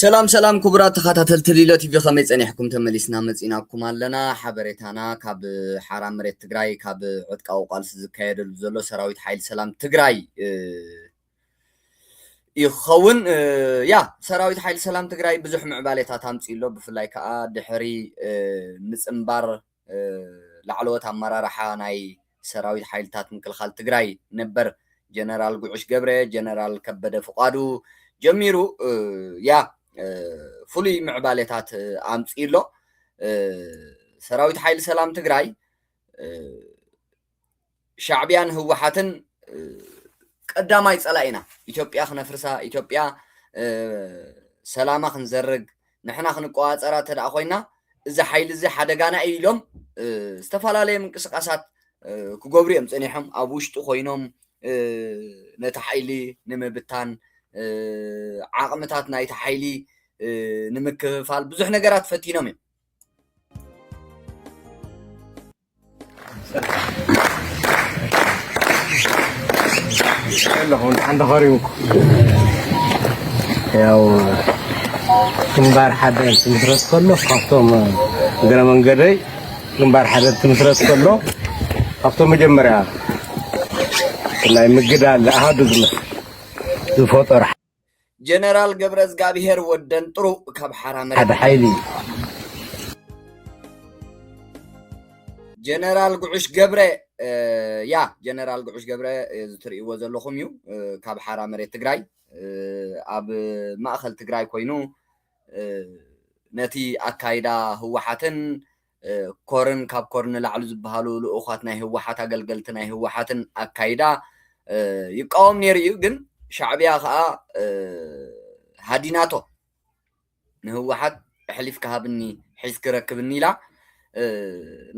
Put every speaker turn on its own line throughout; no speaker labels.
ሰላም ሰላም ክቡራት ተኸታተልቲ ሊሎ ቲቪ ከመይ ጸኒሕኩም ተመሊስና መጺናኩም ኣለና ሓበሬታና ካብ ሓራ መሬት ትግራይ ካብ ዕጥቃዊ ቃልሲ ዝካየደሉ ዘሎ ሰራዊት ሓይሊ ሰላም ትግራይ እዩ ክኸውን ያ ሰራዊት ሓይሊ ሰላም ትግራይ ብዙሕ ምዕባሌታት ኣምፅኡ ኣሎ ብፍላይ ከዓ ድሕሪ ምፅምባር ላዕለዎት ኣመራርሓ ናይ ሰራዊት ሓይልታት ምክልኻል ትግራይ ነበር ጀነራል ጉዕሽ ገብረ፣ ጀነራል ከበደ ፍቓዱ ጀሚሩ ያ ፍሉይ ምዕባሌታት ኣምፂኡ ኣሎ። ሰራዊት ሓይሊ ሰላም ትግራይ፣ ሻዕብያን ህወሓትን ቀዳማይ ፀላኢና ኢትዮጵያ ክነፍርሳ ኢትዮጵያ ሰላማ ክንዘርግ ንሕና ክንቆፃፀራ እንተደኣ ኮይና እዚ ሓይሊ እዚ ሓደጋና እዩ ኢሎም ዝተፈላለየ ምንቅስቃሳት ክገብሩ እዮም ፀኒሖም ኣብ ውሽጡ ኮይኖም ነቲ ሓይሊ ንምብታን ዓቕምታት ናይቲ ሓይሊ ንምክፍፋል ብዙሕ ነገራት ፈቲኖም እዮም
ያው ግንባር ሓደር ትምስረት ከሎ ካብቶም እግረ መንገደይ ግንባር ሓደር ትምስረት ከሎ ካብቶም መጀመርያ ናይ ምግዳል ኣሃዱ ዝፈጠሩ
ጀነራል ገብረዝጋብሄር ወደንጥሩ ካብ ሓራ መሬት ሓደ ሓይሊ ጀነራል ጉዑሽ ገብረ ያ ጀነራል ጉዑሽ ገብረ እዚ ትርእይዎ ዘለኹም እዩ ካብ ሓራ መሬት ትግራይ ኣብ ማእኸል ትግራይ ኮይኑ ነቲ ኣካይዳ ህወሓትን ኮርን ካብ ኮር ንላዕሊ ዝበሃሉ ልኡዃት ናይ ህወሓት ኣገልገልቲ ናይ ህወሓትን ኣካይዳ ይቃወም ነይሩ እዩ ግን ሻዕብያ ከዓ ሃዲናቶ ንህወሓት ኣሕሊፍካ ሃብኒ ሒዝኪ ረክብኒ ኢላ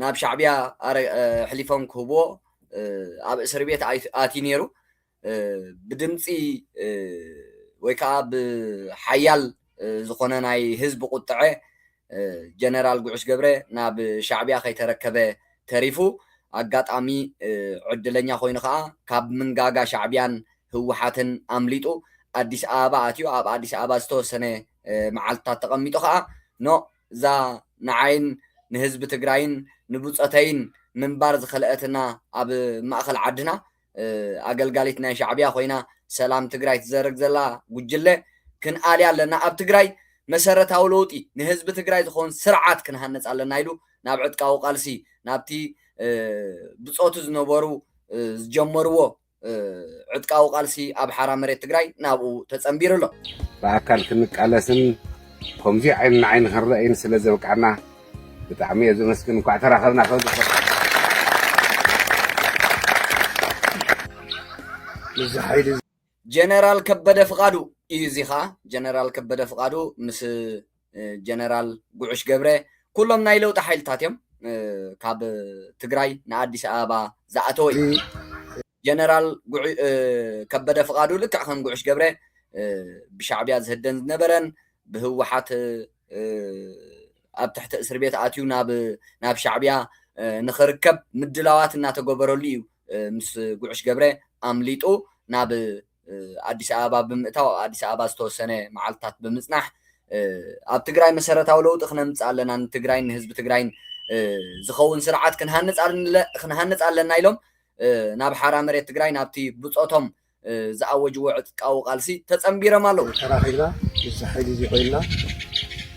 ናብ ሻዕብያ ኣሕሊፎም ክህብዎ ኣብ እስር ቤት ኣትዩ ነይሩ ብድምፂ ወይ ከዓ ብሓያል ዝኾነ ናይ ህዝቢ ቁጥዐ ጀነራል ጉዑሽ ገብረ ናብ ሻዕቢያ ከይተረከበ ተሪፉ ኣጋጣሚ ዕድለኛ ኮይኑ ከዓ ካብ ምንጋጋ ሻዕቢያን ህወሓትን ኣምሊጡ ኣዲስ ኣበባ ኣትዩ ኣብ ኣዲስ ኣበባ ዝተወሰነ መዓልትታት ተቐሚጡ ከዓ ኖ እዛ ንዓይን ንህዝቢ ትግራይን ንብፆተይን ምንባር ዝኸልአትና ኣብ ማእኸል ዓድና ኣገልጋሊት ናይ ሻዕቢያ ኮይና ሰላም ትግራይ ትዘርግ ዘላ ጉጅለ ክንኣልያ ኣለና ኣብ ትግራይ መሰረታዊ ለውጢ ንህዝቢ ትግራይ ዝኸውን ስርዓት ክንሃንፅ ኣለና ኢሉ ናብ ዕጥቃዊ ቃልሲ ናብቲ ብፆቱ ዝነበሩ ዝጀመርዎ ዕጥቃዊ ቃልሲ ኣብ ሓራ መሬት ትግራይ ናብኡ ተፀንቢሩ ኣሎ ብኣካል
ክንቃለስን ከምዚ ዓይኒ ንዓይኒ ክንረኣይን ስለ ዘብቅዓና ብጣዕሚ እየ ዘመስግን እንኳዕ ተራኸብና ጀነራል
ከበደ ፍቃዱ እዩ እዚ ከዓ ጀነራል ከበደ ፍቃዱ ምስ ጀነራል ጉዑሽ ገብረ ኩሎም ናይ ለውጢ ሓይልታት እዮም ካብ ትግራይ ንኣዲስ ኣበባ ዝኣተወ እዩ ጀነራል ከበደ ፍቃዱ ልክዕ ከም ጉዑሽ ገብረ ብሻዕቢያ ዝህደን ዝነበረን ብህወሓት ኣብ ትሕቲ እስር ቤት ኣትዩ ናብ ሻዕብያ ንኽርከብ ምድላዋት እናተገበረሉ እዩ ምስ ጉዕሽ ገብረ ኣምሊጡ ናብ ኣዲስ ኣበባ ብምእታው ኣብ ኣዲስ ኣበባ ዝተወሰነ መዓልትታት ብምፅናሕ ኣብ ትግራይ መሰረታዊ ለውጢ ክነምፅእ ኣለና ንትግራይን ንህዝቢ ትግራይን ዝኸውን ስርዓት ክንሃንፅ ኣለና ኢሎም ናብ ሓራ መሬት ትግራይ ናብቲ ብፆቶም ዝኣወጅዎ ዕጥቃዊ ቃልሲ ተጸንቢረም ኣለዉ። ተራኺብና ምስዚ
ሓይሊ እዚ ኮይንና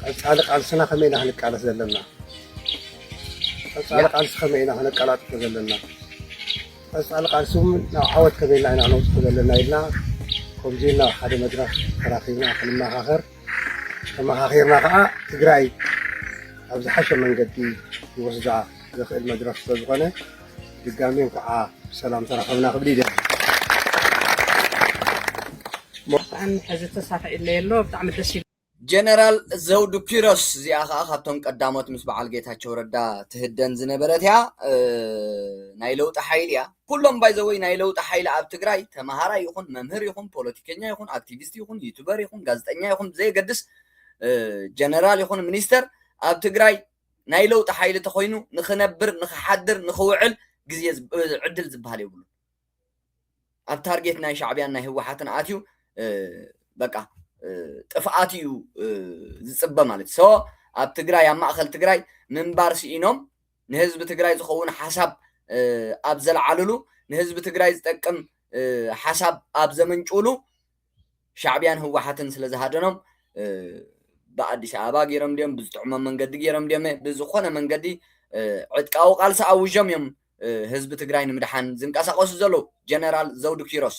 ቀጻሊ ቃልስና ከመይ ኢና ክንቃለስ ዘለና? ቀጻሊ ቃልሲ ከመይ ኢና ክነቀላጥፎ ዘለና? ቀጻሊ ቃልሲ እውን ናብ ዓወት ከመይ ኢልና ኢና ክነውጽሖ ዘለና ኢልና ከምዚ ኢልና ኣብ ሓደ መድረኽ ተራኺብና ክንመኻኸር ተመኻኺርና ከዓ ትግራይ ኣብ ዝሓሸ መንገዲ ክወስዳ ዘኽእል መድረኽ ስለዝኾነ ድጋሜ እንኳዓ ብሰላም ተራኸብና ክብል ይደሊ። ብጣዕሚ
ሕዚ ተሳትዒለይ ኣሎ ብጣዕሚ ደስ ጀነራል
ዘውዱ ኪሮስ እዚኣ ከዓ ካብቶም ቀዳሞት ምስ በዓል ጌታቸው ረዳ ትህደን ዝነበረት እያ ናይ ለውጢ ሓይሊ እያ ኩሎም ባይዘወይ ናይ ለውጢ ሓይሊ ኣብ ትግራይ ተምሃራይ ይኹን መምህር ይኹን ፖለቲከኛ ይኹን ኣክቲቪስት ይኹን ዩቱበር ይኹን ጋዜጠኛ ይኹን ብዘየገድስ ጀነራል ይኹን ሚኒስተር ኣብ ትግራይ ናይ ለውጢ ሓይሊ ተኾይኑ ንኽነብር ንኽሓድር ንኽውዕል ግዜ ዕድል ዝብሃል የብሉን ኣብ ታርጌት ናይ ሻዕብያን ናይ ህወሓትን ኣትዩ በቃ ጥፍኣት እዩ ዝፅበ ማለት ሶ ኣብ ትግራይ ኣብ ማእኸል ትግራይ ምንባር ስኢኖም ንህዝቢ ትግራይ ዝኸውን ሓሳብ ኣብ ዘልዓልሉ ንህዝቢ ትግራይ ዝጠቅም ሓሳብ ኣብ ዘመንጭውሉ ሻዕብያን ህወሓትን ስለ ዝሃደኖም ብኣዲስ ኣበባ ገይሮም ድዮም ብዝጥዕሞም መንገዲ ገይሮም ድዮም ብዝኾነ መንገዲ ዕጥቃዊ ቃልሲ ኣውጆም እዮም ህዝቢ ትግራይ ንምድሓን ዝንቀሳቐሱ ዘለዉ ጀነራል ዘውዱ ኪሮስ።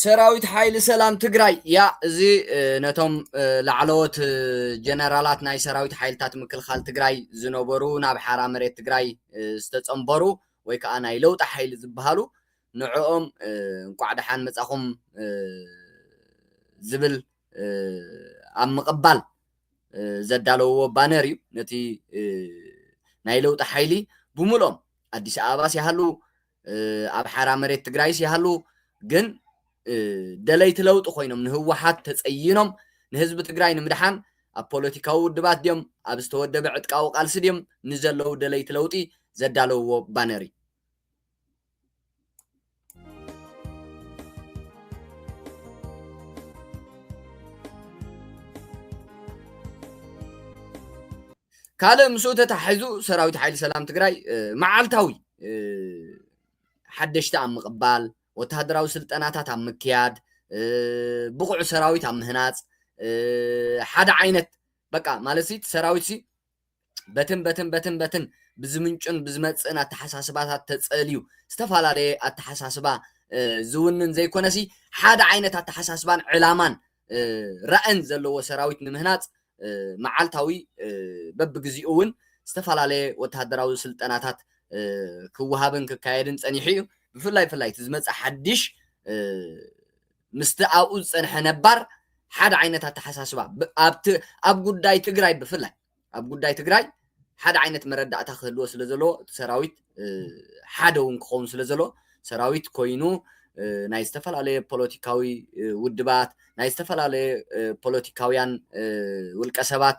ሰራዊት ሓይሊ ሰላም ትግራይ ያ እዚ ነቶም ላዕለዎት ጀነራላት ናይ ሰራዊት ሓይልታት ምክልኻል ትግራይ ዝነበሩ ናብ ሓራ መሬት ትግራይ ዝተፀምበሩ ወይ ከዓ ናይ ለውጢ ሓይሊ ዝበሃሉ ንዕኦም እንኳዕ ደሓን መፃኹም ዝብል ኣብ ምቕባል ዘዳለውዎ ባነር እዩ። ነቲ ናይ ለውጢ ሓይሊ ብሙሉኦም ኣዲስ ኣበባስ ይሃሉ ኣብ ሓራ መሬት ትግራይስ ይሃሉ ግን ደለይቲ ለውጢ ኮይኖም ንህወሓት ተፀይኖም ንህዝቢ ትግራይ ንምድሓን ኣብ ፖለቲካዊ ውድባት ድዮም ኣብ ዝተወደበ ዕጥቃዊ ቃልሲ ድዮም ንዘለዉ ደለይቲ ለውጢ ዘዳለውዎ ባነር እዩ። ካልእ ምስኡ ተታሒዙ ሰራዊት ሓይሊ ሰላም ትግራይ መዓልታዊ ሓደሽቲ ኣብ ምቕባል ወተሃደራዊ ስልጠናታት ኣብ ምክያድ ብቑዕ ሰራዊት ኣብ ምህናፅ ሓደ ዓይነት በቃ ማለት ሰራዊት በትን በትን በትን በትን ብዝምንጩን ብዝመጽእን ኣተሓሳስባታት ተጸልዩ ዝተፈላለየ ኣተሓሳስባ ዝውንን ዘይኮነሲ ሓደ ዓይነት ኣተሓሳስባን ዕላማን ራእን ዘለዎ ሰራዊት ንምህናጽ መዓልታዊ በብግዚኡ እውን ዝተፈላለየ ወተሃደራዊ ስልጠናታት ክወሃብን ክካየድን ፀኒሑ እዩ ብፍላይ ፍላይ እቲ ዝመፀ ሓድሽ ምስቲ ኣብኡ ዝጸንሐ ነባር ሓደ ዓይነት ኣተሓሳስባ ኣብቲ ኣብ ጉዳይ ትግራይ ብፍላይ ኣብ ጉዳይ ትግራይ ሓደ ዓይነት መረዳእታ ክህልዎ ስለ ዘለዎ እቲ ሰራዊት ሓደ እውን ክኸውን ስለ ዘለዎ ሰራዊት ኮይኑ ናይ ዝተፈላለየ ፖለቲካዊ ውድባት ናይ ዝተፈላለየ ፖለቲካውያን ውልቀ ሰባት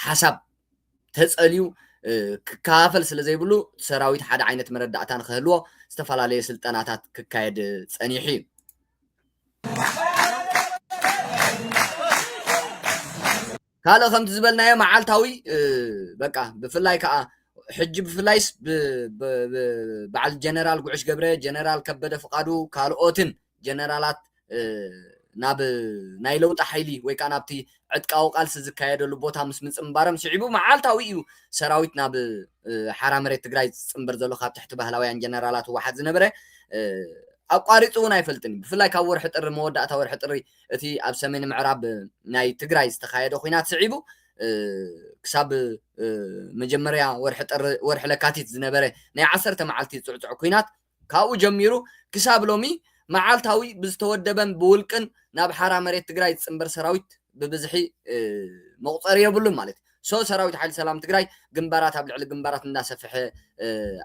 ሓሳብ ተጸልዩ ክከፋፈል ስለ ዘይብሉ ሰራዊት ሓደ ዓይነት መረዳእታ ንክህልዎ ዝተፈላለየ ስልጠናታት ክካየድ ጸኒሑ እዩ። ካልእ ከምቲ ዝበልናዮ መዓልታዊ በቃ ብፍላይ ከዓ ሕጂ ብፍላይስ በዓል ጀነራል ጉዕሽ ገብረ ጀነራል ከበደ ፍቃዱ ካልኦትን ጀነራላት ናብ ናይ ለውጢ ሓይሊ ወይ ከዓ ናብቲ ዕጥቃዊ ቃልሲ ዝካየደሉ ቦታ ምስ ምፅምባሮም ስዒቡ መዓልታዊ እዩ ሰራዊት ናብ ሓራ መሬት ትግራይ ዝፅምበር ዘሎ ካብ ትሕቲ ባህላውያን ጀነራላት ህወሓት ዝነበረ ኣቋሪፁ እውን ኣይፈልጥን እዩ ብፍላይ ካብ ወርሒ ጥሪ መወዳእታ ወርሒ ጥሪ እቲ ኣብ ሰሜን ምዕራብ ናይ ትግራይ ዝተካየደ ኩናት ስዒቡ ክሳብ መጀመርያ ወርሒ ጥሪ ወርሒ ለካቲት ዝነበረ ናይ ዓሰርተ መዓልቲ ፅዕፅዕ ኩናት ካብኡ ጀሚሩ ክሳብ ሎሚ መዓልታዊ ብዝተወደበን ብውልቅን ናብ ሓራ መሬት ትግራይ ዝፅንበር ሰራዊት ብብዝሒ መቑፀሪ የብሉን ማለት እዩ። ሶ ሰራዊት ሓይሊ ሰላም ትግራይ ግንባራት ኣብ ልዕሊ ግንባራት እንዳሰፈሐ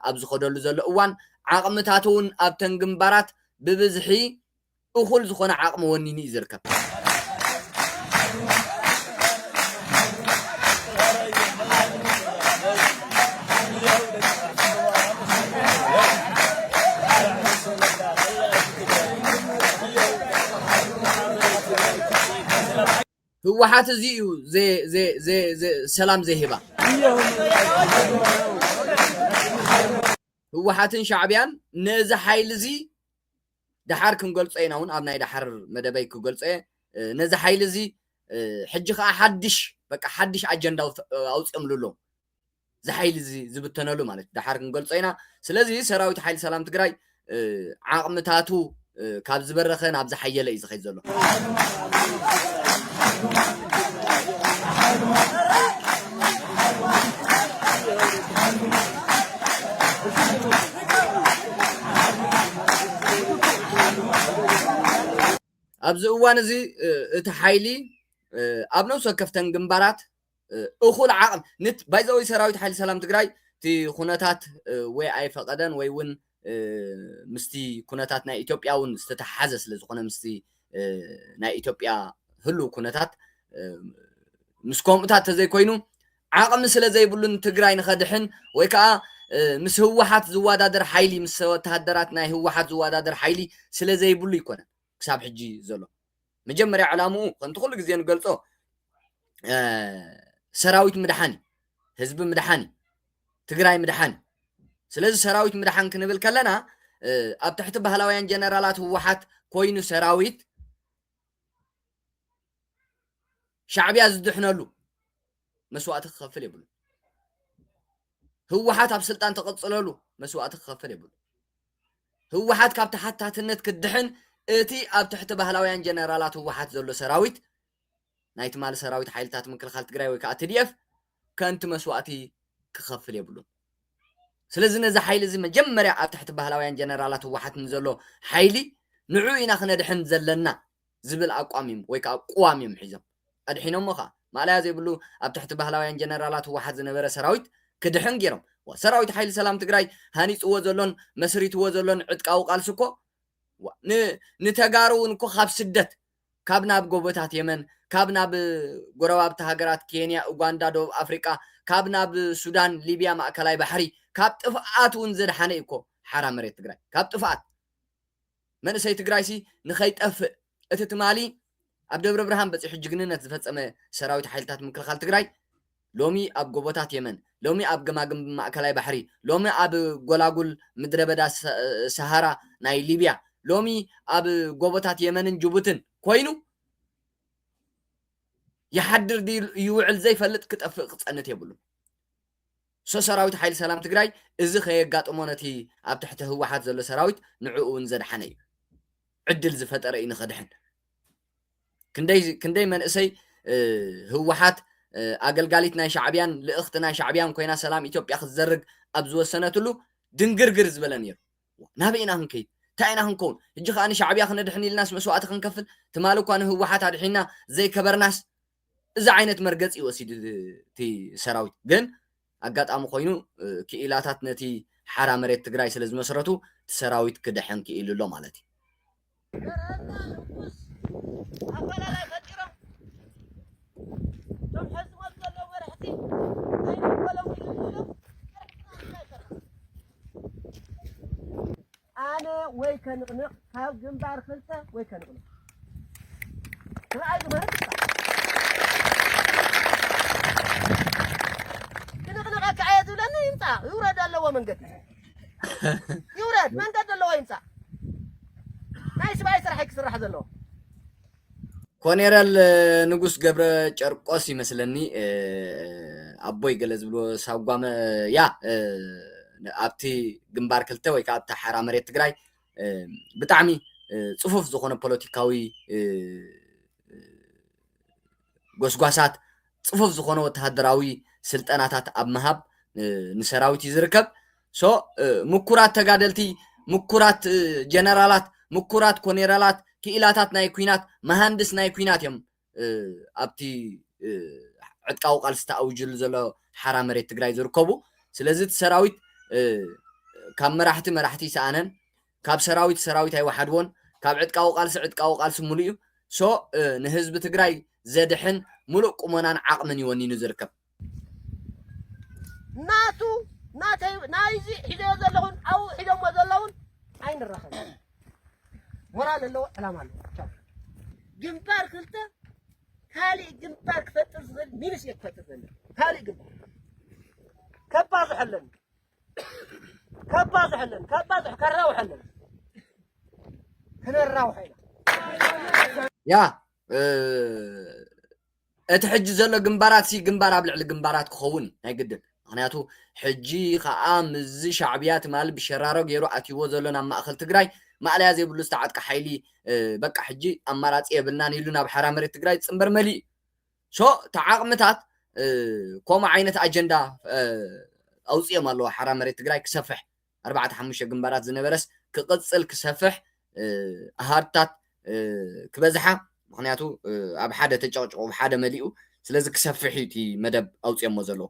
ኣብ ዝኸደሉ ዘሎ እዋን ዓቕምታቱ እውን ኣብተን ግንባራት ብብዝሒ እኹል ዝኾነ ዓቕሚ ወኒኑ እዩ ዝርከብ። ህወሓት እዚ እዩ ሰላም ዘይህባ ህወሓትን ሻዕቢያን ነዚ ሓይሊ እዚ ደሓር ክንገልጾ ኢና ውን ኣብ ናይ ደሓር መደበይ ክገልጾ'የ ነዚ ሓይሊ እዚ ሕጂ ከኣ ሓድሽ በቃ ሓድሽ ኣጀንዳ ኣውጺኦምሉ ኣለው እዚ ሓይሊ እዚ ዝብተነሉ ማለት ደሓር ክንገልጾ ኢና ስለዚ ሰራዊት ሓይሊ ሰላም ትግራይ ዓቕምታቱ ካብ ዝበረኸ ናብ ዝሓየለ እዩ ዝኸይድ ዘሎ ኣብዚ እዋን እዚ እቲ ሓይሊ ኣብ ነብሲ ወከፍተን ግንባራት እኹል ዓቕሚ ባይዘወይ ሰራዊት ሓይሊ ሰላም ትግራይ እቲ ኩነታት ወይ ኣይፈቐደን ወይ እውን ምስቲ ኩነታት ናይ ኢትዮጵያ እውን ዝተተሓሓዘ ስለ ዝኾነ ምስቲ ናይ ኢትዮጵያ ህሉው ኩነታት ምስ ከምኡታት ተዘይኮይኑ ዓቕሚ ስለ ዘይብሉን ትግራይ ንኸድሕን ወይ ከዓ ምስ ህወሓት ዝወዳደር ሓይሊ ምስ ወተሃደራት ናይ ህወሓት ዝወዳደር ሓይሊ ስለ ዘይብሉ ኣይኮነን ክሳብ ሕጂ ዘሎ መጀመርያ ዕላምኡ ከምቲ ኩሉ ግዜ ንገልጾ ሰራዊት ምድሓን እዩ ህዝቢ ምድሓን እዩ ትግራይ ምድሓን እዩ ስለዚ ሰራዊት ምድሓን ክንብል ከለና ኣብ ትሕቲ ባህላውያን ጀነራላት ህወሓት ኮይኑ ሰራዊት ሻዕብያ ዝድሕነሉ መስዋእቲ ክኸፍል የብሉ ህወሓት ኣብ ስልጣን ተቐፅለሉ መስዋእቲ ክኸፍል የብሉ ህወሓት ካብ ተሓታትነት ክድሕን እቲ ኣብ ትሕቲ ባህላውያን ጀነራላት ህወሓት ዘሎ ሰራዊት ናይ ትማሊ ሰራዊት ሓይልታት ምክልኻል ትግራይ ወይ ከዓ ትድኤፍ ከንቲ መስዋእቲ ክኸፍል የብሉን ስለዚ ነዚ ሓይሊ እዚ መጀመርያ ኣብ ትሕቲ ባህላውያን ጀነራላት ህወሓት ንዘሎ ሓይሊ ንዑ ኢና ክነድሕን ዘለና ዝብል ኣቋም እዮም ወይ ከኣ ቁዋም እዮም ሒዞም ኣድሒኖሞ ከኣ ማእለያ ዘይብሉ ኣብ ትሕቲ ባህላውያን ጀነራላት ህወሓት ዝነበረ ሰራዊት ክድሕን ጌሮም ሰራዊት ሓይሊ ሰላም ትግራይ ሃኒጽዎ ዘሎን መስሪትዎ ዘሎን ዕጥቃዊ ቃልሲ እኮ ን ንተጋሩ እውን እኮ ካብ ስደት ካብ ናብ ጎቦታት የመን ካብ ናብ ጎረባብቲ ሃገራት ኬንያ ኡጋንዳ ደቡብ ኣፍሪቃ ካብ ናብ ሱዳን ሊብያ ማእከላይ ባሕሪ ካብ ጥፍኣት እውን ዘድሓነ እዩ እኮ ሓራ መሬት ትግራይ ካብ ጥፍኣት መንእሰይ ትግራይሲ ንኸይጠፍእ እቲ ትማሊ ኣብ ደብረብርሃን በፂሑ ጅግንነት ዝፈፀመ ሰራዊት ሓይልታት ምክልኻል ትግራይ ሎሚ ኣብ ጎቦታት የመን፣ ሎሚ ኣብ ገማግም ማእከላይ ባሕሪ፣ ሎሚ ኣብ ጎላጉል ምድረበዳ ሰሃራ ናይ ሊብያ፣ ሎሚ ኣብ ጎቦታት የመንን ጅቡትን ኮይኑ ይሓድር ድዩ ይውዕል ዘይፈልጥ ክጠፍእ ክፀንት የብሉን። ሶ ሰራዊት ሓይሊ ሰላም ትግራይ እዚ ከየጋጥሞ ነቲ ኣብ ትሕቲ ህወሓት ዘሎ ሰራዊት ንዕኡ እውን ዘድሓነ እዩ ዕድል ዝፈጠረ እዩ ንኸድሕን ክንደይ ክንደይ መንእሰይ ህወሓት ኣገልጋሊት ናይ ሻዕብያን ልእኽቲ ናይ ሻዕብያን ኮይና ሰላም ኢትዮጵያ ክትዘርግ ኣብ ዝወሰነትሉ ድንግርግር ዝበለ ነይሩ ናበይ ኢና ክንከይድ እንታይ ኢና ክንከውን ሕጂ ከዓ ንሻዕብያ ክነድሕን ኢልናስ መስዋእቲ ክንከፍል ትማሊ እኳ ንህወሓት ኣድሒና ዘይከበርናስ እዚ ዓይነት መርገጺ እዩ ወሲዱ እቲ ሰራዊት። ግን ኣጋጣሚ ኮይኑ ክኢላታት ነቲ ሓራ መሬት ትግራይ ስለ ዝመስረቱ እቲ ሰራዊት ክድሕን ክኢሉ ኣሎ ማለት እዩ። ገረህና ንጉስ ኣፈላላይ ፈጢሮም እቶም ሐዝሞት ዘለዉ መራሕቲ ኣይንበሎም ኢሉ ኢሎም
ገረህና እንታይ ሰራ ኣነ ወይ ከንቕንቕ ካብ ግንባር ክልተ ወይ ከንቕንቕ ይውረድ ኣለዎ መንገዲ ይውረድ መንገዲ ኣለዎ ይምፃእ ናይ ስብኣይ ስራሕ ክስራሕ ዘለዎ
ኮኔረል ንጉስ ገብረ ጨርቆስ ይመስለኒ ኣቦይ ገለ ዝብሎ ሳጓመ ያ ኣብቲ ግንባር ክልተ ወይ ከዓ ኣብቲ ሓራ መሬት ትግራይ ብጣዕሚ ፅፉፍ ዝኾነ ፖለቲካዊ ጎስጓሳት ጽፉፍ ዝኾነ ወተሃደራዊ ስልጠናታት ኣብ ምሃብ ንሰራዊት እዩ ዝርከብ ሶ ምኩራት ተጋደልቲ ምኩራት ጀነራላት ምኩራት ኮኔራላት ክኢላታት ናይ ኩናት መሃንድስ ናይ ኩናት እዮም ኣብቲ ዕጥቃዊ ቃልሲ ተኣውጅሉ ዘሎ ሓራ መሬት ትግራይ ዝርከቡ ስለዚ እቲ ሰራዊት ካብ መራሕቲ መራሕቲ ይሰኣነን ካብ ሰራዊት ሰራዊት ኣይወሓድዎን ካብ ዕጥቃዊ ቃልሲ ዕጥቃዊ ቃልሲ ሙሉእ እዩ so ንህዝቢ ትግራይ ዘድሕን ሙሉእ ቁመናን ዓቅምን እዩ ወኒኑ ዝርከብ። ናቱ ናተይ ናይዚ ሒዘዮ ዘለኹን ኣብኡ ሒዘሞ ዘለውን ኣይንራኸብ ሞራል ኣለዎ ዕላማ ኣለዎ ቻው ግንባር ክልተ ካልእ ግንባር ክፈጥር ዝኽእል ሚንስ እየ ክፈጥር ዘለኒ ካልእ ግንባር ከባዝሖ ኣለኒ ከባዝሐለን ከባዝሕ ከራውሐለን ክነራውሐ ኢና ያ እቲ ሕጂ ዘሎ ግንባራት ሲ ግንባር ኣብ ልዕሊ ግንባራት ክኸውን ናይ ግድን ምክንያቱ ሕጂ ከዓ ምዚ ሻዕብያ ትማሊ ብሸራሮ ገይሩ ኣትይዎ ዘሎ ናብ ማእኸል ትግራይ ማእለያ ዘይብሉ ዝተዓጥቀ ሓይሊ በቃ ሕጂ ኣማራፂ የብልናን ኢሉ ናብ ሓራ መሬት ትግራይ ዝፅምበር መሊእ ሶ እቲ ዓቕምታት ከምኡ ዓይነት ኣጀንዳ ኣውፅኦም ኣለዎ ሓራ መሬት ትግራይ ክሰፍሕ ኣርባዕተ ሓሙሽተ ግንባራት ዝነበረስ ክቕፅል ክሰፍሕ ኣሃድታት ክበዝሓ ምክንያቱ ኣብ ሓደ ተጨቕጭቑ ሓደ መሊኡ ስለዚ ክሰፍሕ እዩ እቲ መደብ ኣውፅኦሞ ዘለዉ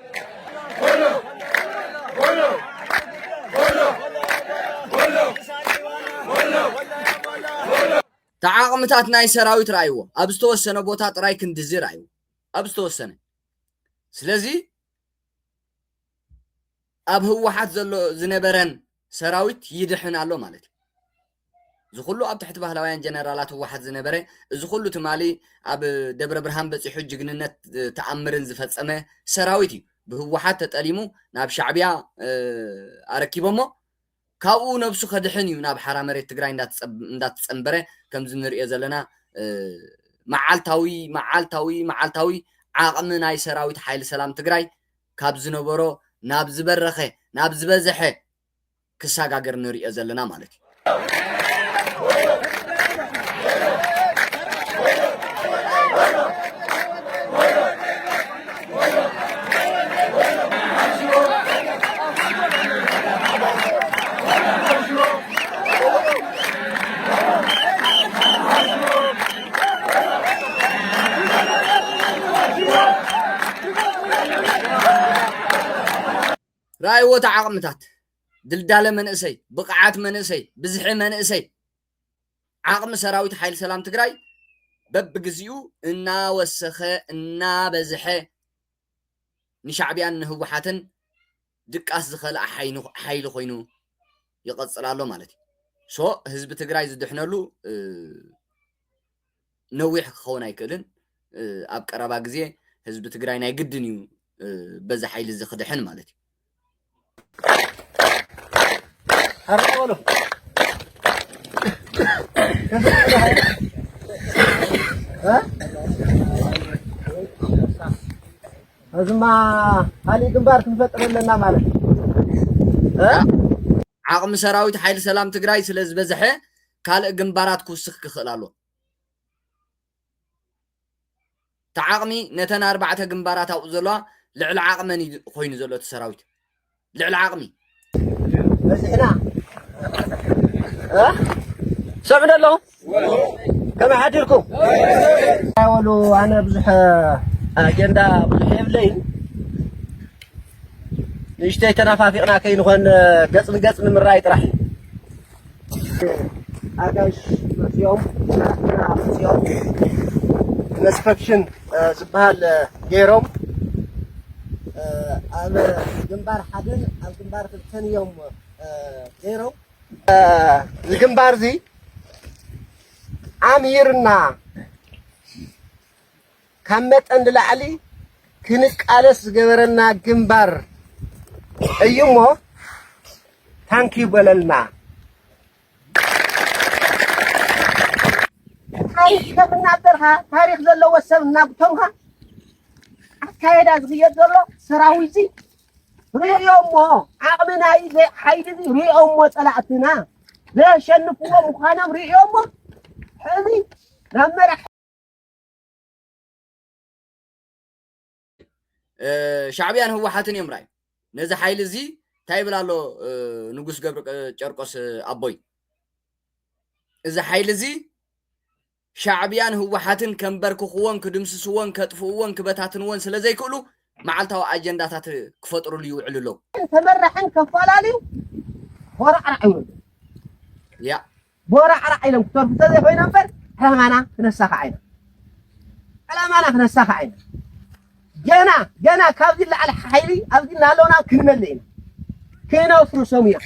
እቲ ዓቕምታት ናይ ሰራዊት ርኣይዎ ኣብ ዝተወሰነ ቦታ ጥራይ ክንድዚ ርኣይዎ ኣብ ዝተወሰነ ስለዚ ኣብ ህወሓት ዘሎ ዝነበረን ሰራዊት ይድሕን ኣሎ ማለት እዩ እዚ ኩሉ ኣብ ትሕቲ ባህላውያን ጀነራላት ህወሓት ዝነበረ እዚ ኩሉ ትማሊ ኣብ ደብረብርሃን በፂሑ ጅግንነት ተኣምርን ዝፈፀመ ሰራዊት እዩ ብህወሓት ተጠሊሙ ናብ ሻዕቢያ ኣረኪቦሞ ካብኡ ነብሱ ከድሕን እዩ ናብ ሓራ መሬት ትግራይ እንዳተፀንበረ ከምዚ ንሪኦ ዘለና መዓልታዊ መዓልታዊ መዓልታዊ ዓቕሚ ናይ ሰራዊት ሓይሊ ሰላም ትግራይ ካብ ዝነበሮ ናብ ዝበረኸ ናብ ዝበዘሐ ክሳጋገር ንርእዮ ዘለና ማለት እዩ። ራእይዎ እቲ ዓቕምታት፣ ድልዳለ መንእሰይ፣ ብቕዓት መንእሰይ፣ ብዝሒ መንእሰይ፣ ዓቕሚ ሰራዊት ሓይሊ ሰላም ትግራይ በብግዚኡ እናወሰኸ እናበዝሐ ንሻዕቢያን ንህወሓትን ድቃስ ዝኸልኣ ሓይሊ ኮይኑ ይቐፅል ኣሎ ማለት እዩ ሶ ህዝቢ ትግራይ ዝድሕነሉ ነዊሕ ክኸውን ኣይክእልን ኣብ ቀረባ ግዜ ህዝቢ ትግራይ ናይ ግድን እዩ በዚ ሓይሊ እዚ ክድሕን ማለት እዩ።
ኣርቆሎ እዚማ ካሊእ ግንባር ክንፈጥር ኣለና ማለት
ዓቕሚ ሰራዊት ሓይሊ ሰላም ትግራይ ስለ ዝበዝሐ ካልእ ግንባራት ክውስኽ ክኽእል ኣሎዎ። እቲ ዓቕሚ ነተን ኣርባዕተ ግንባራት ኣብኡ ዘለዋ ልዕሊ ዓቕመን እዩ ኮይኑ ዘሎ እቲ ሰራዊት ልዕሊ ዓቕሚ
በዚሕና ሰምዑ ደለኹም ከመይ ሓዲርኩም ወሉ ኣነ ብዙሕ ኣጀንዳ ብዙሕ የብለይ ንእሽተይ ተናፋፊቕና ከይንኾን ገፅ ንገፅ ንምራይ ጥራሕ እዩ ኣጋይሽ መፅኦም ናትና መፅኦም ኢንስፐክሽን ዝበሃል ገይሮም ኣብ ግንባር ሓደን ኣብ ግንባር ክልተን እዮም ገይሮም እዚ ግንባር እዚ ኣምሂርና ካብ መጠን ንላዕሊ ክንቃለስ ዝገበረና ግንባር እዩ እሞ ታንኪ በለልና። ታሪክ ከም እናበልካ ታሪክ ዘለዎ ሰብ እናጉተምካ ኣካየዳ ዝኽየድ ዘሎ ሰራዊት እዚ ርእዮ እሞ ዓቕሚ ናይ ሓይሊ እዚ ርእዮ እሞ ፀላእትና ዘሸንፍዎ ምዃኖም ርእዮ እሞ ሕዚ ናብ መራሕ
ሻዕብያን ህወሓትን እዮም ራይ ነዚ ሓይሊ እዚ እንታይ ይብል ኣሎ ንጉስ ገብሪ ጨርቆስ ኣቦይ እዚ ሓይሊ እዚ ሻዕብያን ህወሓትን ከንበርክኽዎን ክድምስስዎን ከጥፍእዎን ክበታትንዎን ስለ ዘይክእሉ መዓልታዊ ኣጀንዳታት ክፈጥሩሉ ይውዕሉ ኣለው። ተመራሕን
ከፋላልዩ ቦራዕራዕ ይብሉ
ያ ቦራዕራዕ
ኢሎም ክተርፉ እንተዘይኮይኖም እምበር ዕላማና ክነሳኽዓ ኢና ዕላማና ክነሳኽዓ ኢና ገና ገና ካብዚ ላዕሊ ሓይሊ ኣብዚ እናሃለውና ክንመልእ ኢና ክነፍርሶም እዮም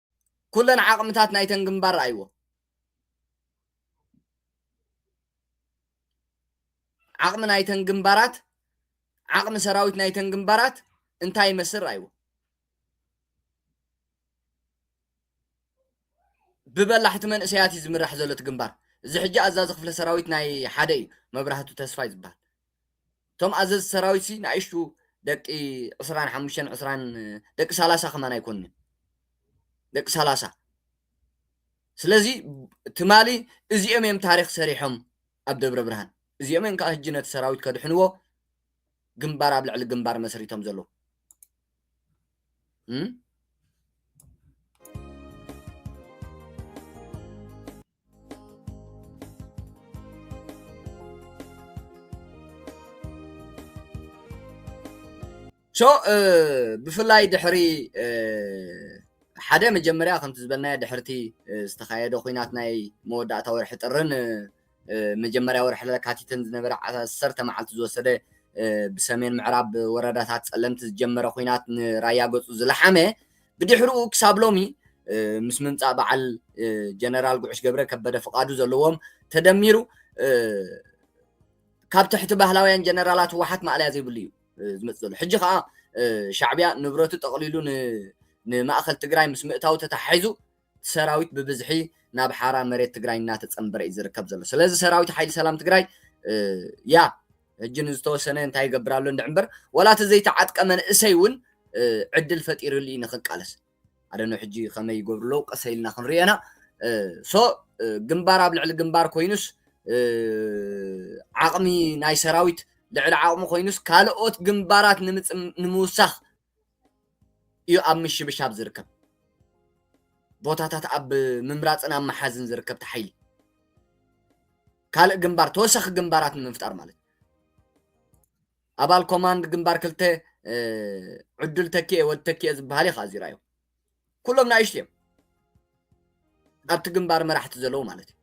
ኩለን ዓቕምታት ናይተን ግንባር ረኣይዎ። ዓቕሚ ናይተን ግንባራት ዓቕሚ ሰራዊት ናይተን ግንባራት እንታይ ይመስል ረኣይዎ። ብበላሕቲ መንእሰያት እዩ ዝምራሕ ዘሎ እቲ ግንባር። እዚ ሕጂ ኣዛዚ ክፍለ ሰራዊት ናይ ሓደ እዩ፣ መብራህቱ ተስፋይ ዝበሃል። እቶም ኣዘዝቲ ሰራዊትሲ ንኣሽቱ ደቂ ዕስራን ሓሙሽተን ዕስራን ደቂ ሰላሳ ከማን ኣይኮኑን እዮም ደቂ ሰላሳ ስለዚ ትማሊ እዚኦም እዮም ታሪክ ሰሪሖም ኣብ ደብረ ብርሃን እዚኦም እዮም ከዓ ህጂ ነቲ ሰራዊት ከድሕንዎ ግንባር ኣብ ልዕሊ ግንባር መስሪቶም ዘለዉ ሶ ብፍላይ ድሕሪ ሓደ መጀመርያ ከምቲ ዝበልናዮ ድሕርቲ ዝተኻየደ ኩናት ናይ መወዳእታ ወርሒ ጥርን መጀመርያ ወርሒ ለካቲትን ዝነበረ ዓሰርተ መዓልቲ ዝወሰደ ብሰሜን ምዕራብ ወረዳታት ፀለምቲ ዝጀመረ ኩናት ንራያ ገፁ ዝለሓመ ብድሕርኡ ክሳብ ሎሚ ምስ ምምፃእ በዓል ጀነራል ጉዕሽ ገብረ ከበደ ፍቓዱ ዘለዎም ተደሚሩ ካብ ትሕቲ ባህላውያን ጀነራላት ህወሓት ማእለያ ዘይብሉ እዩ ዝመፅእ ዘሎ ሕጂ ከዓ ሻዕብያ ንብረቱ ጠቕሊሉ ንማእኸል ትግራይ ምስ ምእታው ተተሓሒዙ እቲ ሰራዊት ብብዝሒ ናብ ሓራ መሬት ትግራይ እናተፀምበረ እዩ ዝርከብ ዘሎ። ስለዚ ሰራዊት ሓይሊ ሰላም ትግራይ ያ ሕጂ ንዝተወሰነ እንታይ ይገብር ኣሎ እንድዕ እምበር ዋላ እቲ ዘይተዓጥቀ መንእሰይ እውን ዕድል ፈጢሩሉ እዩ ንክቃለስ ኣደነ ሕጂ ከመይ ይገብሩ ኣለዉ ቀሰ ኢልና ክንሪኦ ኢና ሶ ግንባር ኣብ ልዕሊ ግንባር ኮይኑስ ዓቕሚ ናይ ሰራዊት ልዕሊ ዓቕሚ ኮይኑስ ካልኦት ግንባራት ንምውሳኽ እዩ ኣብ ምሽብሻብ ዝርከብ ቦታታት ኣብ ምምራፅን ኣብ መሓዝን ዝርከብ ተሓይሊ ካልእ ግንባር ተወሳኺ ግንባራት ንምፍጣር ማለት ኣባል ኮማንድ ግንባር ክልተ ዕዱል ተኪኤ ወድ ተኪኤ ዝበሃል እዩ ከዓ እዚራዮ ኩሎም ናእሽቱ እዮም ኣብቲ ግንባር መራሕቲ ዘለዉ ማለት እዩ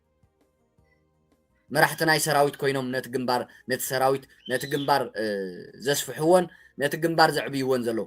መራሕቲ ናይ ሰራዊት ኮይኖም ነቲ ግንባር ነቲ ሰራዊት ነቲ ግንባር ዘስፍሕዎን ነቲ ግንባር ዘዕብይዎን ዘለዉ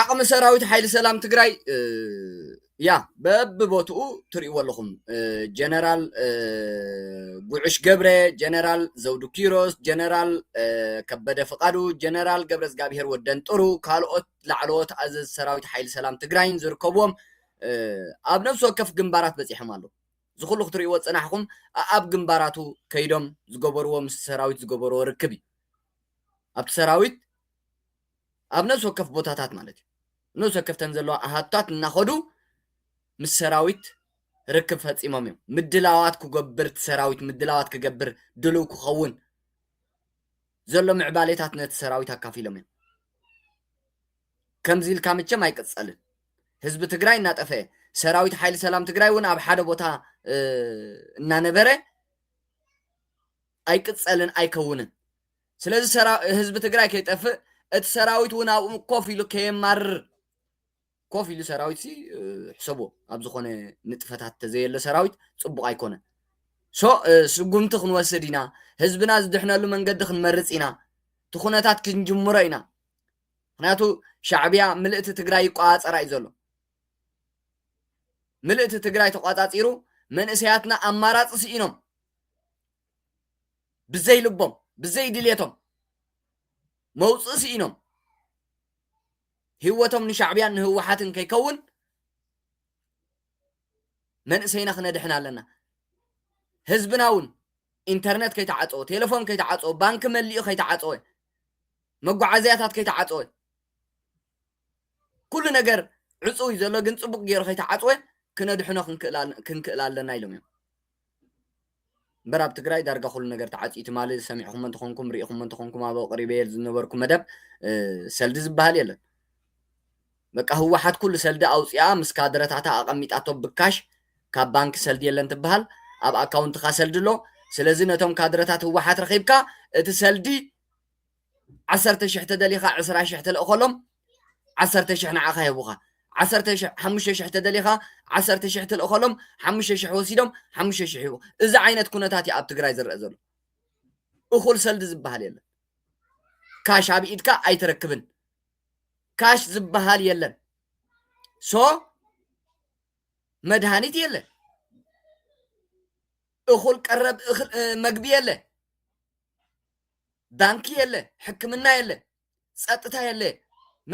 ዓቕሚ ሰራዊት ሓይሊ ሰላም ትግራይ ያ በብቦትኡ ትሪእዎ ኣለኹም ጀነራል ጉዑሽ ገብረ ጀነራል ዘውዱ ኪሮስ ጀነራል ከበደ ፍቃዱ ጀነራል ገብረ እግዚኣብሄር ወደንጥሩ ካልኦት ላዕለዎት ኣዘዝ ሰራዊት ሓይሊ ሰላም ትግራይን ዝርከብዎም ኣብ ነብሲ ወከፍ ግንባራት በፂሖም ኣለዉ እዚ ኩሉ ክትሪእዎ ፅናሕኹም ኣብ ግንባራቱ ከይዶም ዝገበርዎ ምስ ሰራዊት ዝገበርዎ ርክብ እዩ ኣብቲ ሰራዊት ኣብ ነብሲ ወከፍ ቦታታት ማለት እዩ ነብሲ ወከፍ እተን ዘለዋ ኣሃዱታት እናኸዱ ምስ ሰራዊት ርክብ ፈጺሞም እዮም። ምድላዋት ኩገብር እቲ ሰራዊት ምድላዋት ክገብር ድሉው ክኸውን ዘሎ ምዕባሌታት ነቲ ሰራዊት ኣካፊሎም እዮም። ከምዚ ኢልካ መቸም ኣይቅጸልን። ህዝቢ ትግራይ እናጠፈኤ ሰራዊት ሓይሊ ሰላም ትግራይ እውን ኣብ ሓደ ቦታ እናነበረ ኣይቅጸልን ኣይከውንን። ስለዚ ህዝቢ ትግራይ ከይጠፍእ እቲ ሰራዊት እውን ኣብኡ ኮፍ ኢሉ ከየማርር ኮፍ ኢሉ ሰራዊት ሲ ሕሰቦ ኣብ ዝኾነ ንጥፈታት ተዘየለ ሰራዊት ፅቡቕ ኣይኮነን ሶ ስጉምቲ ክንወስድ ኢና ህዝብና ዝድሕነሉ መንገዲ ክንመርፅ ኢና እቲ ኩነታት ክንጅምሮ ኢና ምክንያቱ ሻዕብያ ምልእቲ ትግራይ ይቆፃፀራ እዩ ዘሎ ምልእቲ ትግራይ ተቆፃፂሩ መንእሰያትና ኣማራፂ ስኢኖም ብዘይ ልቦም ብዘይ ድሌቶም መውፅእ ስኢኖም ህይወቶም ንሻዕብያን ንህወሓትን ከይከውን መንእሰይና ክነድሕን ኣለና ህዝብና እውን ኢንተርነት ከይተዓፀወ ቴሌፎን ከይተዓፀወ ባንኪ መሊኡ ከይተዓፀወ መጓዓዝያታት ከይተዓፀወ ኩሉ ነገር ዕፁው እዩ ዘሎ ግን ፅቡቅ ገይሩ ከይተዓፅወ ክነድሕኖ ክንክእል ኣለና ኢሎም እዮም እምበር ኣብ ትግራይ ዳርጋ ኩሉ ነገር ተዓጽዩ ትማሊ ሰሚዕኹሞ እንተኾንኩም ርኢኹሞ እንተኾንኩም ኣብ ኣቕሪበየል ዝነበርኩ መደብ ሰልዲ ዝበሃል የለን በቃ ህወሓት ኩሉ ሰልዲ ኣውፂኣ ምስ ካድረታታ ኣቐሚጣቶ ብካሽ ካብ ባንኪ ሰልዲ የለን ትበሃል ኣብ ኣካውንትካ ሰልዲ ኣሎ ስለዚ ነቶም ካድረታት ህወሓት ረኺብካ እቲ ሰልዲ ዓሰርተ ሽሕ ተደሊኻ ዕስራ ሽሕ ትልእኸሎም ዓሰርተ ሽሕ ንዓኻ ይህቡኻ ዓሰርተ ሽሕ ሓሙሽተ ሽሕ ተደሊኻ ዓሰርተ ሽሕ ትልእኸሎም ሓሙሽተ ሽሕ ወሲዶም ሓሙሽተ ሽሕ ይህቡ እዚ ዓይነት ኩነታት እዩ ኣብ ትግራይ ዝረአ ዘሎ እኹል ሰልዲ ዝበሃል የለን ካሽ ኣብ ኢድካ ኣይትረክብን ካሽ ዝበሃል የለን ሶ መድሃኒት የለ እኹል ቀረብ መግቢ የለ ባንኪ የለ ሕክምና የለ ፀጥታ የለ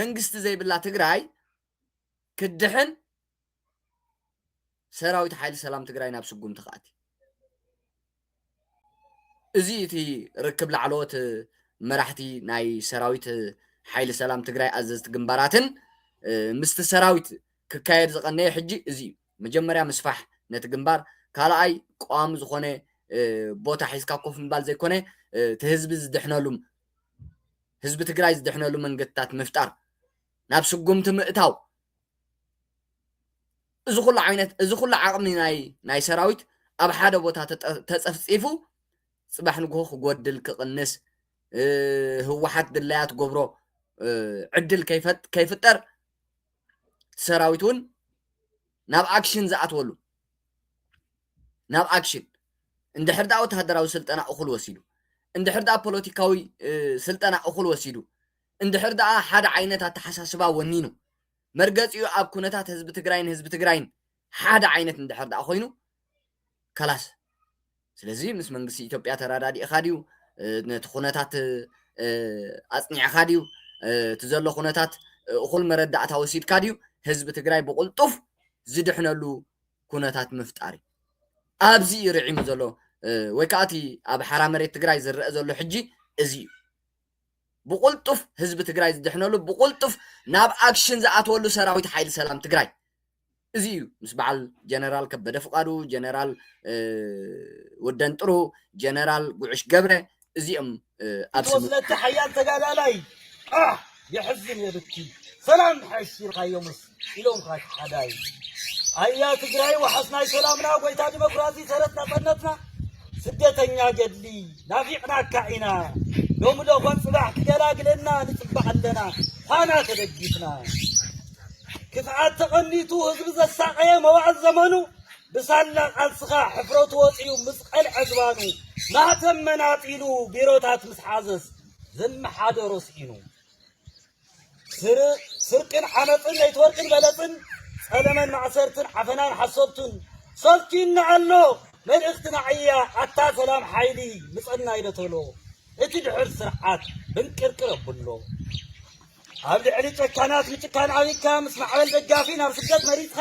መንግስቲ ዘይብላ ትግራይ ክድሕን ሰራዊት ሓይሊ ሰላም ትግራይ ናብ ስጉምቲ ክኣቲ እዚ እቲ ርክብ ላዕለዎት መራሕቲ ናይ ሰራዊት ሓይሊ ሰላም ትግራይ ኣዘዝቲ ግንባራትን ምስቲ ሰራዊት ክካየድ ዝቐነየ ሕጂ እዚ እዩ መጀመርያ ምስፋሕ ነቲ ግንባር፣ ካልኣይ ቀዋሚ ዝኾነ ቦታ ሒዝካ ኮፍ ምባል ዘይኮነ እቲ ህዝቢ ዝድሕነሉም ህዝቢ ትግራይ ዝድሕነሉ መንገድታት ምፍጣር ናብ ስጉምቲ ምእታው እዚ ኩሉ ዓይነት እዚ ኩሉ ዓቕሚ ናይ ናይ ሰራዊት ኣብ ሓደ ቦታ ተፀፍፂፉ ፅባሕ ንግሆ ክጎድል ክቕንስ ህወሓት ድላያ ትገብሮ ዕድል ከይፍጠር እቲ ሰራዊት እውን ናብ ኣክሽን ዝኣትወሉ ናብ ኣክሽን እንድሕር ደኣ ወተሃደራዊ ስልጠና እኹል ወሲዱ እንድሕር ደኣ ፖለቲካዊ ስልጠና እኹል ወሲዱ እንድሕር ደኣ ሓደ ዓይነት ኣተሓሳስባ ወኒኑ መርገፂኡ ኣብ ኩነታት ህዝቢ ትግራይን ህዝቢ ትግራይን ሓደ ዓይነት እንድሕር ደኣ ኮይኑ ከላስ ስለዚ ምስ መንግስቲ ኢትዮጵያ ተረዳዲእኻ ድዩ ነቲ ኩነታት ኣጽኒዕኻ ድዩ እቲ ዘሎ ኩነታት እኹል መረዳእታ ወሲድካ ድዩ ህዝቢ ትግራይ ብቕልጡፍ ዝድሕነሉ ኩነታት ምፍጣር እዩ ኣብዚ እዩ ርዒሙ ዘሎ ወይ ከዓ እቲ ኣብ ሓራ መሬት ትግራይ ዝረአ ዘሎ ሕጂ እዚ እዩ ብቁልጡፍ ህዝቢ ትግራይ ዝድሕነሉ ብቁልጡፍ ናብ ኣክሽን ዝኣተወሉ ሰራዊት ሓይሊ ሰላም ትግራይ እዚ እዩ ምስ በዓል ጀነራል ከበደ ፍቃዱ፣ ጀነራል ወደንጥሩ፣ ጀነራል ጉዕሽ ገብረ እዚኦም ኣብ ስምምዕ ወስለቲ
ሓያል ተጋዳላይ ኣሕ የሕዝን የብኪ ሰላም ሓሺርካዮምስ ኢሎም ሓዳይ ኣያ ትግራይ ዋሕስ ናይ ሰላምና ጎይታ ዲሞክራሲ ሰረት ናጸነትና ስደተኛ ገድሊ ናፊቅናካ ኢና ሎሚ ዶኾን ጽባሕ ክገላግለና ንጽባሕ ኣለና ፋና ተደጊፍና ክፍኣት ተቐኒቱ ህዝቢ ዘሳቐየ መዋእል ዘመኑ ብሳላ ቃልስኻ ሕፍረቱ ወፂኡ ምስ ቐልዐ ዝባኑ ማህተም መናጢሉ ቢሮታት ምስ ሓዘስ ዝመሓደሮ ስኢኑ ስርቅን ዓመፅን ለይትወርቅን በለፅን ፀለመን ማእሰርትን ዓፈናን ሓሶብቱን ሰልኪና ኣሎ መልእኽትና ዕያ ኣታ ሰላም ሓይሊ ምፀና ይደተሎ እቲ ድሑር ስርዓት ብንቅርቅር ኣብሎ ኣብ ልዕሊ ጨካናት ምጭካን ዓቢድካ ምስ ማዕበል ደጋፊ ናብ ስደት መሪጽካ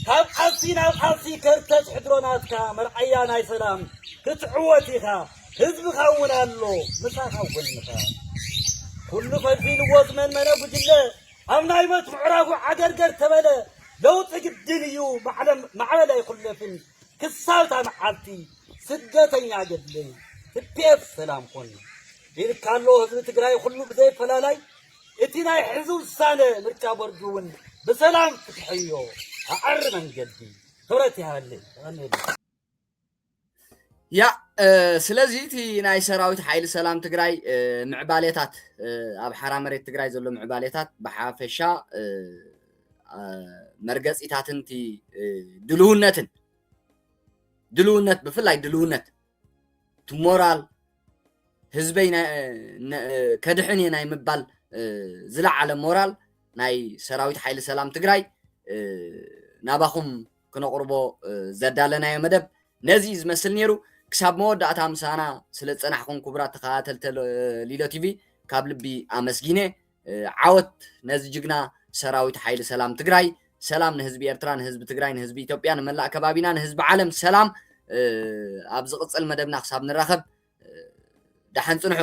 ካብ ቃልሲ ናብ ቃልሲ ከርተት ሕድሮ ናትካ መርኣያ ናይ ሰላም ክትዕወት ኢኻ ህዝብኻ እውን ኣሎ ምሳኻ ኣብ ጎንኻ ኩሉ ፈዚልዎ ዝመንመነ ጉጅለ ኣብ ናይ ሞት ምዕራፉ ዓገርገር ተበለ ለውጢ ግድን እዩ ማዕበል ኣይኹለፍን ክሳብታ መዓልቲ ስደተኛ ገድለይ ትፔፍ ሰላም ኹን ይልካ ኣሎ ህዝቢ ትግራይ ኹሉ ብዘይ ኣፈላላይ እቲ ናይ ሕዚ ውሳነ ምርጫ ቦርድ እውን ብሰላም ፍትሒ እዮ ኣዐሪ መንገዲ ክብረት
ይሃልይ ተቀኒሉ ያ ስለዚ እቲ ናይ ሰራዊት ሓይሊ ሰላም ትግራይ ምዕባሌታት ኣብ ሓራ መሬት ትግራይ ዘሎ ምዕባሌታት ብሓፈሻ መርገፂታትን እቲ ድልውነትን ድልውነት ብፍላይ ድልውነት እቲ ሞራል ህዝበይ ከድሕን እየ ናይ ምባል ዝለዓለ ሞራል ናይ ሰራዊት ሓይሊ ሰላም ትግራይ ናባኹም ክነቕርቦ ዘዳለናዮ መደብ ነዚ ዝመስል ነይሩ ክሳብ መወዳእታ ምሳና ስለ ዝፀናሕኹም ክቡራት ተኸታተልቲ ሊሎ ቲቪ ካብ ልቢ ኣመስጊነ ዓወት ነዚ ጅግና ሰራዊት ሓይሊ ሰላም ትግራይ ሰላም ንህዝቢ ኤርትራ ንህዝቢ ትግራይ ንህዝቢ ኢትዮጵያ ንመላእ ከባቢና ንህዝቢ ዓለም ሰላም ኣብ ዝቕፅል መደብና ክሳብ ንራኸብ ደሓን ፅንሑ